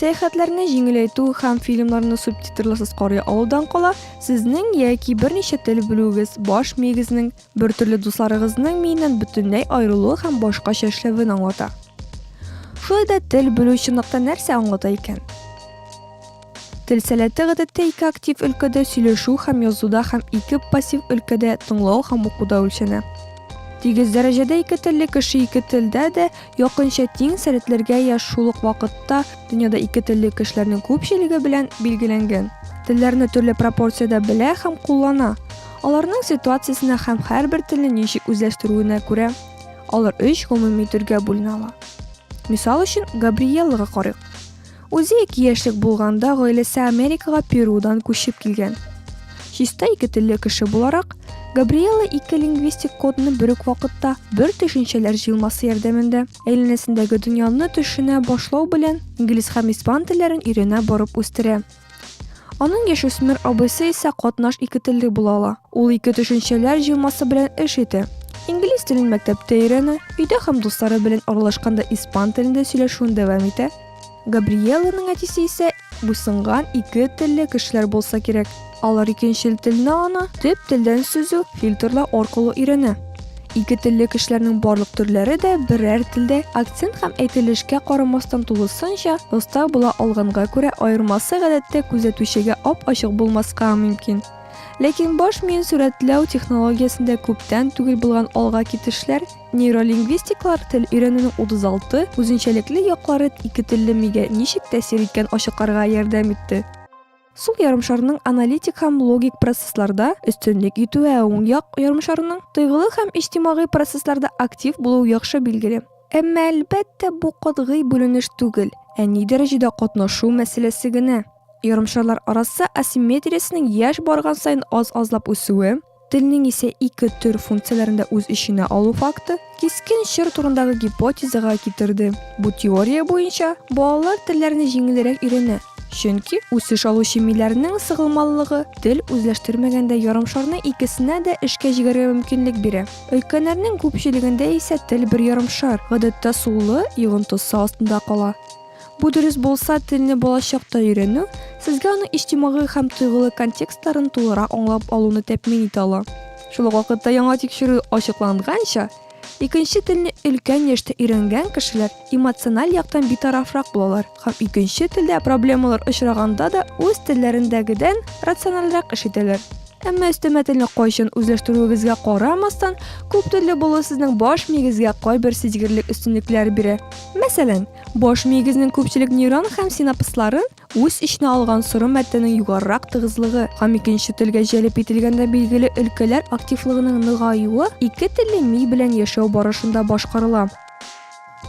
Сәяхәтләрне җиңеләйтү һәм фильмнарны субтитрларсыз карый алудан кала, сезнең яки берничә тел белүегез баш миегезнең, бертөрле дусларыгызның миеннән бөтенләй аерылуы һәм башкача эшләвен аңлата. Шулай да тел белү чынлыкта нәрсә аңлата икән? Тел сәләте гадәттә ике актив өлкәдә сөйләшү һәм язуда һәм ике пассив өлкәдә тыңлау һәм укуда үлчәнә. Тигез дәрәҗәдә ике телле кеше ике телдә дә Якынча тиң сәләтләргә яшь шул ук вакытта дөньяда ике телле кешеләрнең күпчелеге белән билгеләнгән. Телләрне төрле пропорциядә белә һәм куллана. Аларның ситуациясенә һәм һәрбер телне ничек үзләштерүенә күрә алар өч гомуми төргә бүленә ала. Мисал өчен, Габриеллага карыйк. Үзе ике яшьлек булганда гаиләсе Америкага Перудан күчеп килгән. Чиста ике телле кеше буларак, Габриэла ике лингвистик кодны бер үк вакытта бер төшенчәләр җыелмасы ярдәмендә әйләнәсендәге дөньяны төшенә башлау белән инглиз һәм испан телләрен өйрәнә барып үстерә. Аның яшүсмер абыйсы исә катнаш икетелле була ала. Ул ике төшенчәләр җыелмасы белән эш итә. Инглиз телен мәктәптә өйрәнә, өйдә һәм дуслары белән аралашканда испан телендә сөйләшүен дәвам итә. Габриелланың әтисе исә буйсынган ике телле кешеләр булса кирәк. Алар икенчел телне аны төп телдән сөзү фильтрлау аркылы өйрәнә. Ике телле кешеләрнең барлык төрләре дә берәр телдә акцент һәм әйтелешкә карамастан тулысынча оста була алганга күрә аермасы гадәттә күзәтүчегә ап-ачык булмаска мөмкин. Ләкин баш миен сурәтләү технологиясендә күптән түгел булган алга китешләр, нейролингвистиклар тел өйрәнүнең 36 үзенчәлекле яклары ике телле мигә ничек тәэсир иткән ачыкларга ярдәм итте. Сул ярымшарның аналитик һәм логик процессларда өстенлек итү, ә уң як ярымшарның тойгылы һәм иҗтимагый процессларда актив булуы яхшы билгеле. Әмма, әлбәттә, бу катгый бүленеш түгел, ә ни дәрәҗәдә катнашу мәсьәләсе генә. Ярымшарлар арасы асимметриясенең яшь барган саен аз-азлап үсүе, Телнең исә ике төр функцияләрен дә үз эченә алу факты кискен чор турындагы гипотезага китерде. Бу теория буенча балалар телләрне җиңелрәк өйрәнә, чөнки үсеш алучы миләрнең сыгылмалылыгы тел үзләштермәгәндә ярымшарны икесенә дә эшкә җигәргә мөмкинлек бирә. Өлкәннәрнең күпчелегендә исә тел бер ярымшар, гадәттә сулы, йогынтысы астында кала. Бу дөрес булса, телне балачакта өйрәнү сезгә аның иҗтимагый һәм тойгылы контекстларын тулырак аңлап алуны тәэмин итә ала. Шул ук вакытта яңа тикшерү ачыкланганча, икенче телне өлкән яшьтә өйрәнгән кешеләр эмоциональ яктан битарафрак булалар һәм икенче телдә проблемалар очраганда да үз телләрендәгедән рациональрәк эш итәләр. Әмма өстәмә телне кайчан үзләштерүегезгә карамастан, күптелле булу сезнең баш миегезгә кайбер сизгерлек өстенлекләр бирә. Мәсәлән, Баш миегезнең күпчелек нейрон һәм синапслары үз эченә алган соры матдәнең югарырак тыгызлыгы һәм икенче телгә җәлеп ителгәндә билгеле өлкәләр активлыгының ныгаюы ике телле ми белән яшәү барышында башкарыла.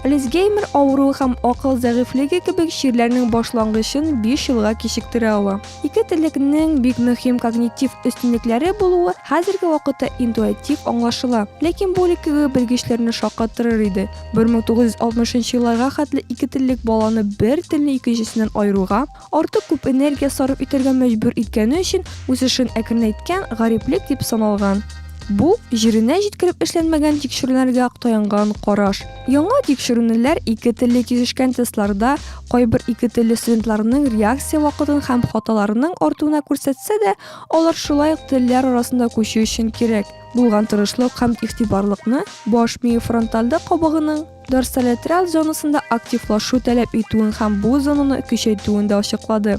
Альцгеймер авыруы һәм акыл зәгыйфьлеге кебек чирләрнең башлангычын биш елга кичектерә ала. Ике теллекнең бик мөһим когнитив өстенлекләре булуы хәзерге вакытта интуатив аңлашыла, ләкин бу элеккеге белгечләрне шаккатырыр иде, 1960 елларга хәтле ике теллек баланы бер телне икенчесеннән айыруга, артык күп энергия сарыф итәргә мәҗбүр иткәне өчен үсешен әкренәйткән гариплек дип саналган. Бу җиренә җиткереп эшләнмәгән тикшеренергә таянган караш. Яңа тикшеренүләр ике телле кисешкән тестларда кайбер ике телле студентларның реакция вакытын һәм хаталарының артуына күрсәтсә дә, алар шулай ук телләр арасында күчү өчен кирәк. Булган тырышлык һәм игътибарлыкны баш мие фронтальда кабыгының дорсолатераль зонасында активлашу таләп итүен һәм бу зонаны көчәйтүен дә ачыклады.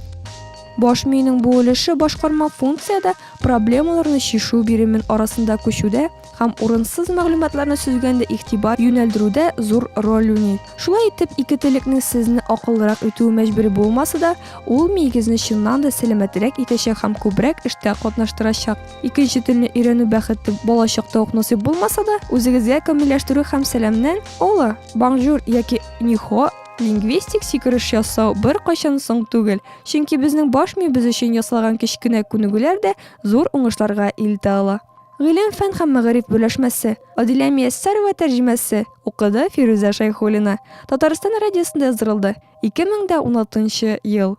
Баш миенең бу өлеше башкарма функциядә проблемаларны чишү биремен арасында күчүдә һәм урынсыз мәгълүматларны сөзгәндә игътибар юнәлдерүдә зур роль уйный. Шулай итеп, ике телекнең сезне акыллырак итүе мәҗбүри булмаса да, ул миегезне чыннан да сәламәтрәк итәчәк һәм күбрәк эштә катнаштырачак. Икенче телне өйрәнү бәхете балачакта ук насыйп булмаса да, үзегезгә камилләштерү һәм сәламнән ола, бонжур яки нихо лингвистик сикереш ясау беркайчан соң түгел, чөнки безнең баш миебез өчен ясалган кечкенә күнегүләр дә зур уңышларга илтә ала. Гыйлем-фән һәм мәгариф берләшмәсе. Адилә Мияссәрова тәрҗемәсе, укыды Фирүзә Шәйхуллина. Татарстан радиосында яздырылды, 2016 ел.